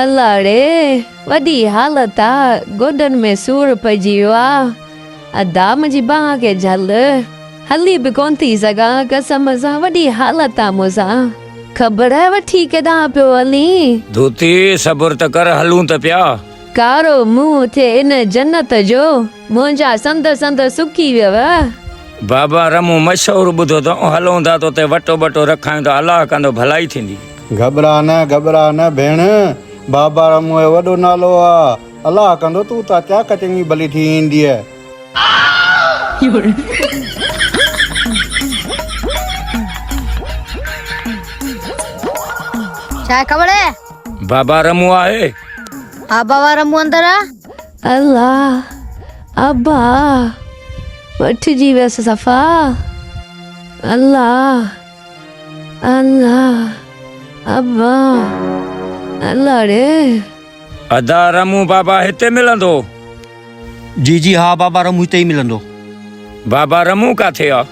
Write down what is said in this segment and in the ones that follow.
الاڙي وڏي حالت آ گوڏن ۾ سور پئجي ويو آ ادا منهنجي بانهن کي جهل هلي به ڪون ٿي سگهان قسم سان وڏي حالت آ مون سان خبر وٺي ڪيڏانهن پيو هلين. ڌوتي صبر ته ڪر هلون ته پيا. ڪارو منهن ٿئي ان جنت جو. منهنجا سنڌ سنڌ سڪي ويو. بابا رح مون مشهور ٻڌو ته او هلون ٿا تو تي وٽو ٻٽو رکايون ته الله ڪندو ڀلائي ٿيندي. گهٻرا نه گهٻرا نه ڀيڻ بابا رح مون جو وڏو نالو آ الله ڪندو تون تان چاڪ چڱي ڀلي ٿي اينديء. ڇا کبڙ اي. بابا رح مون آهي. ها بابا رح مون اندر آ. الله ابا وٺجي ويس صفا الله الله ابا الله ڙي. ادا رمون بابا هتي ملندو. جي جي ها بابا رمون هتي ئي ملندو. بابا رمون ڪاٿي آ.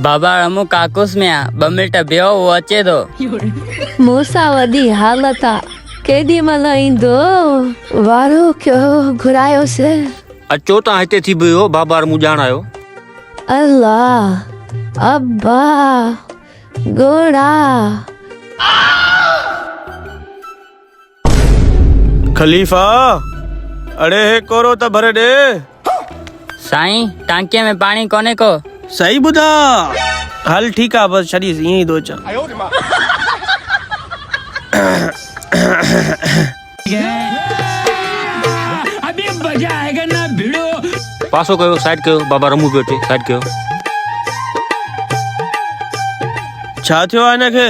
بابا رمون ڪاڪوس ۾ آ ٻه منٽ بيهو هو اچي ٿو. مون سان وڏي حالت آ ڪيڏي مهل ايندو. وارو ڪيو گهرايوس. اچو تان هتي ٿي بيهو بابا رمون ڄاڻ آيو. الا ابا ڳوڙها. خليفا اڙي هي ڪورو ته ڀري ڏي. سائين ٽانڪيء ۾ پاڻي ڪونهي ڪو. صحيح ٻڌا. هل ٺيڪ آ بس ڇڏيس ائين ئي ٿو اچان. پاسو ڪيو سائيڊ ڪيو بابا رمون پيو اچي سائيڊ ڪيو. ڇا ٿيو آ هن کي.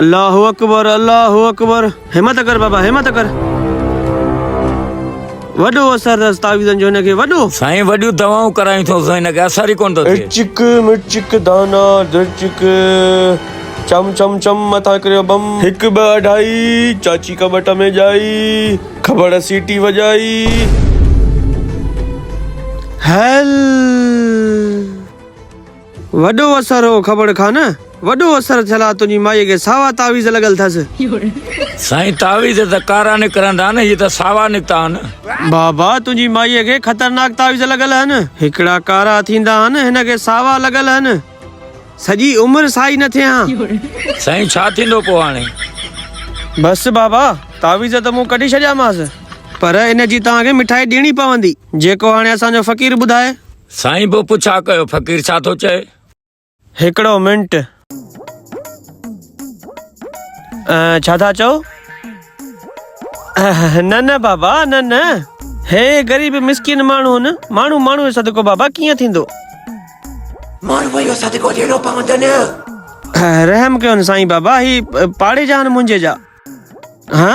الله اڪبر الله اڪبر همت ڪر بابا همت ڪر وڏو اثر اٿس تعويذن جو هن کي وڏو سائين وڏيون دوائون ڪرايون ٿو سائين هن کي اثر ئي ڪونه ٿو ٿئي چڪ مرچڪ دانا درچڪ چم چم چم مٿان ڪريو بم هڪ ٻه اڍائي چاچي ڪٻٽ ۾ ڄائي کبڙ سيٽي وڄائي هيل وڏو اثر هو کبڙ کان نه وڏو اثر ٿيل آ تنهنجي مائي کي ساوا تعويذ لڳل ٿس. سائين تعويذ ته ڪارا نڪرندا نه هي ته ساوا نڪتا آهن. بابا تنهنجي مائي کي خطرناڪ تعويذ لڳل آهن هڪڙا ڪارا ٿيندا آهن هن کي ساوا لڳل آهن سڄي عمر سائي نه ٿئي هان. سائين ڇا ٿيندو پو هاڻي. بس بابا تعويذ ته مون ڪڍي ڇڏيامانس پر ان جي توهان کي مٺائي ڏيڻي پوندي جيڪو هاڻي اسان جو فقير ٻڌائي. سائين پو پڇا ڪيو فقير ڇا ٿو چئي. هڪڙو منٽ ڇا ٿا چئو. نه نه بابا نه نه هي غريب مسڪين ماڻهو هن ماڻهو ماڻهو جو صدقو بابا ڪيئن ٿيندو. ماڻهوء جو صدقو ڏيڻو پوندن. رحم ڪيون سائين بابا هي پاڙي جا هن منهنجي جا. هه.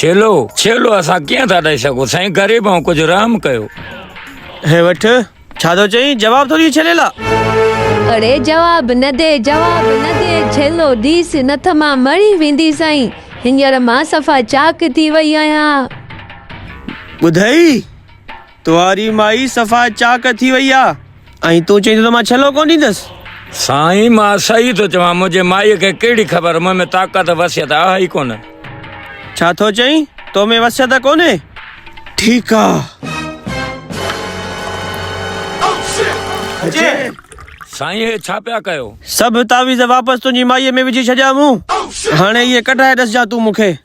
ڇيلو ڇيلو اسان ڪيئن ٿا ڏئي سگهون سائين غريب آهون ڪجهه رحم ڪيو. هي وٺ ڇا ٿو چئين جواب ٿو ڏي ڇيليلا. اڙي جواب نه ڏي جواب نه ڏي ڇيلو ڏيس نه ته مان مري ويندي سائين هينئر مان صفا چاڪ ٿي وئي آهيان. ٻڌئي. توهاري مائي صفا چاڪ ٿي وئي آ ۽ تون چئين ٿو ته مان ڇلو ڪونه ڏيندس. سائين مان صحيح ٿو چوان منهنجي مائي کي ڪهڙي خبر مون ۾ طاقت وصيت آهي ئي ڪونه. ڇا ٿو چئين تو ۾ وصيت ڪونهي ٺيڪ آ. سائين هي ڇا پيا ڪيو. سڀ تعويذ واپس تنهنجي مائي ۾ وجهي ڇڏيا مون هاڻي اهي ڪڍرائي ڏسجان تون مون کي.